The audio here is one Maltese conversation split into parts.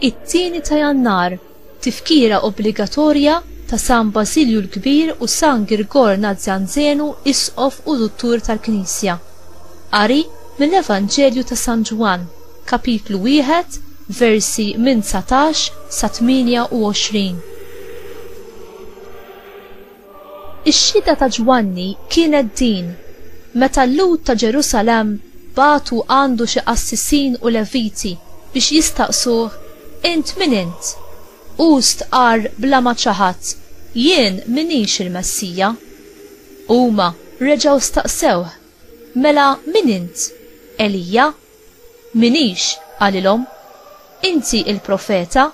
It-tieni ta' Jannar, tifkira obbligatorja ta' San Basilju l-Kbir u San Girgor Nazzjanzenu Isqof u Duttur tal-Knisja. Qari mill-Evanġelju ta' San Ġwann. Kapitlu 1, versi minn 19 sa 28. Ix-xhieda ta' Ġwanni kienet din, meta l-Lhud ta' Ġerusalemm bagħtu għandu xi qassisin u Leviti biex jistaqsuh, Int min int? Hu stqarr bla ma ċaħad, Jien m'iniex il-Messija. Huma reġgħu staqsewh, Mela min int? Elija? M'iniex, qalilhom, inti il-profeta?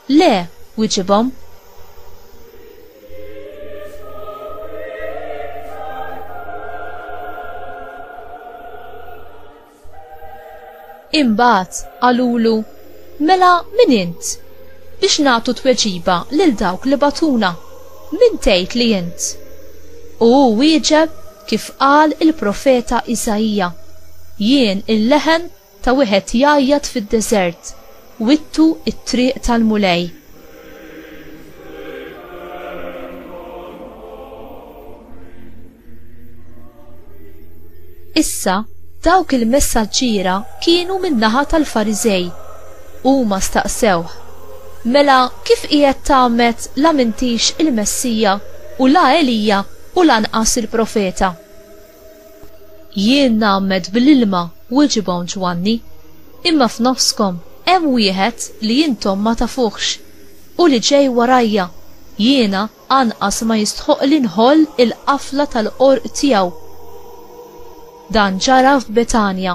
Le, wiġibhom. Imbagħad qalulu, Mela min int? Biex nagħtu tweġiba lil dawk li bagħtuna, min tgħid li int? U hu wieġeb kif qal il-profeta Isaija, Jien il-leħen ta' wieħed jgħajjat fid-deżert, wittu t-triq tal-Mulej, Issa, dawk il-messaġġiera kienu min-naħa tal-Fariżej. Huma staqsewh, Mela kif qiegħed tagħmed la mintix il-Messija u la Elija u lanqas il-Profeta? Jien ngħammed bl-ilma, weġibhom Ġwanni, imma f'nofskom hemm wieħed li intom ma tafuhx, hu li ġej warajja, jiena anqas ma jistħoqqli nħoll il-qafla tal-qorq tiegħu. Dan ġara f'Betanja.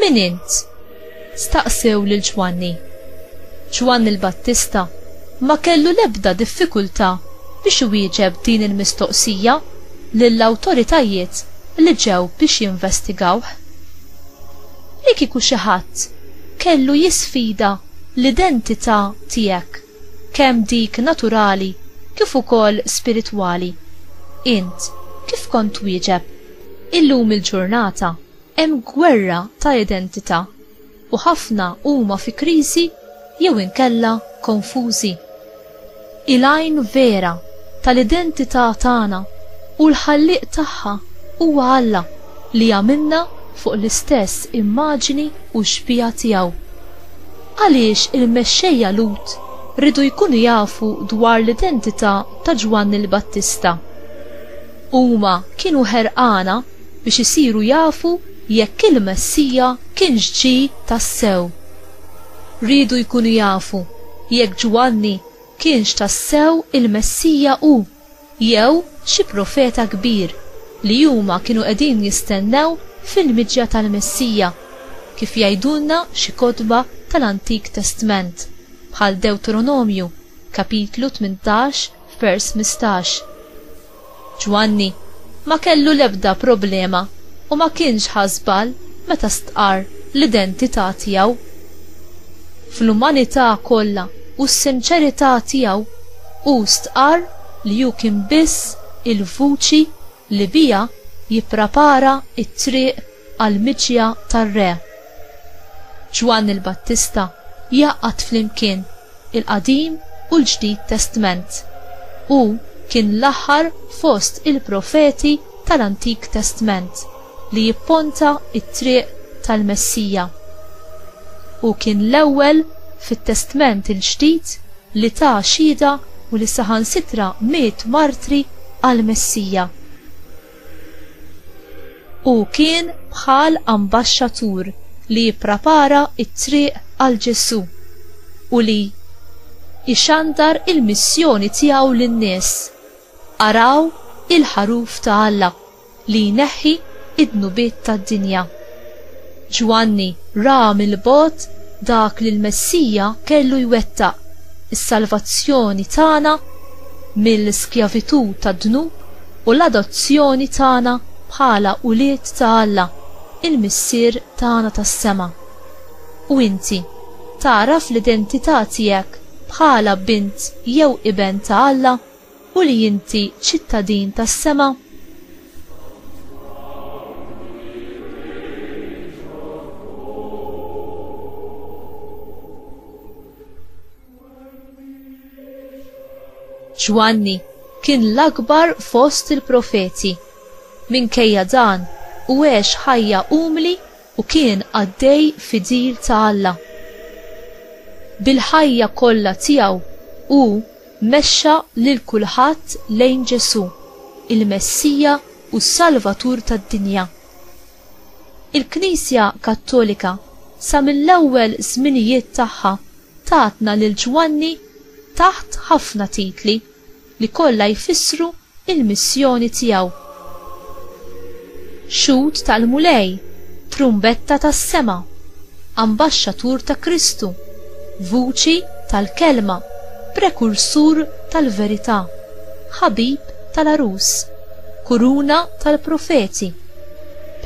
Min int? Staqsew lil Ġwanni. Ġwanni l-Battista ma kellu l-ebda diffikultà biex iwieġeb din il-mistoqsija lill-awtoritajiet li ġew biex jinvestigawh. Li kieku xi ħadd kellu jisfida l-identità tiegħek kemm dik naturali kif ukoll spiritwali. Int kif kont twieġeb? Illum il-ġurnata hemm gwerra ta' identità u ħafna huma fi kriżi jew inkella konfużi. Il-għajn vera tal-identità tagħna u l-Ħallieq tagħha huwa Alla li għamilna fuq l-istess immaġini u xbieha tiegħu. Għaliex il-mexxejja Lhud riedu jkunu jafu dwar l-identità ta' Ġwanni l-Battista? Huma kienu ħerqana biex isiru jafu jekk il-Messija kienx ġie tassew. Riedu jkunu jafu jekk Ġwanni kienx tassew il-Messija hu. Jew xi profeta kbir li huma kienu qegħdin jistennew fil-miġja tal-Messija, kif jgħidulna xi kotba tal-Antik Testment, bħal Dewtronomju, kapitlu tmintax, vers mistax. Ġwanni ma kellu l-ebda problema u ma kienx ħa żball meta stqarr l-identità tiegħu. Fl-umanità kollha u s-sinċerità tiegħu, Hu stqarr li hu kien biss il-vuċi li biha jipprapara t-triq għall-miġja tar-Re. Ġwanni l-Battista jgħaqqad flimkien il-Qadim u l-Ġdid Testment. Hu kien l-aħħar fost il-profeti tal-Antik Testment. li jipponta t-triq tal-Messija. Hu kien l-ewwel fit-Testment il-Ġdid li ta xhieda u li saħansitra miet martri għall-Messija. Hu kien bħal ambaxxatur li jipprapara t-triq għal Ġesù u li ixandar il-missjoni tiegħu lin-nies, Araw il-ħaruf ta' Alla. li jneħħi d-dnubiet tad-dinja. Ġwanni ra mill-bogħod dak li l-Messija kellu jwettaq, is-salvazzjoni tagħna mill-skjavitù tad-dnub u l-adozzjoni tagħna bħala ulied ta' Alla, il-Missier tagħna tas-sema. U inti, tagħraf l-identità tiegħek bħala bint jew iben ta' Alla? U li inti ċittadin tas-sema? Ġwanni kien l-akbar fost il-profeti. Minkejja dan, u għex ħajja umli u kien qaddej fidil ta' Alla. Bil-ħajja kollha tiegħu hu Mexxa lil kulħadd lejn Ġesù, il-Messija u s-Salvatur tad-dinja. Il-Knisja Kattolika sa mill-ewwel żminijiet tagħha tatna lil Ġwanni taħt ħafna titli li kollha jfissru il-missjoni tiegħu. Xhud tal-Mulej, trumbetta tas-sema, ambaxxatur ta' Kristu, vuċi tal-kelma, prekursur tal-verità, ħabib tal-għarus, kuruna tal-profeti,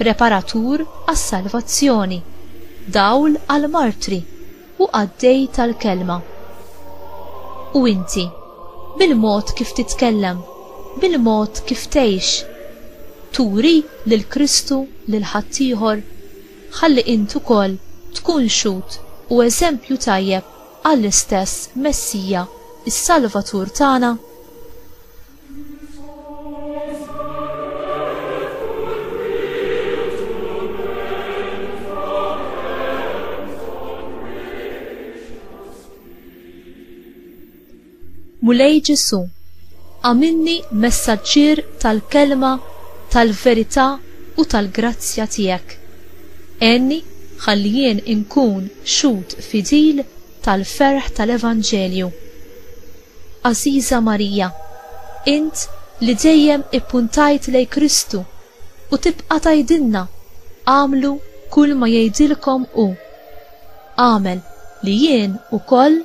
preparatur għas-salvazzjoni, dawl għall-martri. u qaddej tal-kelma. U inti, bil-mod kif titkellem, bil-mod kif tgħix, turi lil Kristu lil ħaddieħor? Ħalli int ukoll tkun xhud u eżempju tajjeb għall-istess Messija, is-Salvatur tagħna. Mulej Ġesu, għamilni messaġġier tal-kelma tal-verità u tal-grazzja tiegħek. Enni ħalli jien inkun xut fidil tal-ferħ tal-Evanġelju. Għażiża Marija, int li dejjem ippuntajt lejn Kristu u tibqa' tgħidilna, agħmlu kulma jgħidilkom hu, agħmel li jien ukoll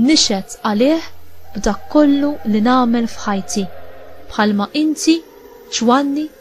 nixhed għalih b'dak kollu li nagħmel f'ħajti, bħalma inti, Ġwanni,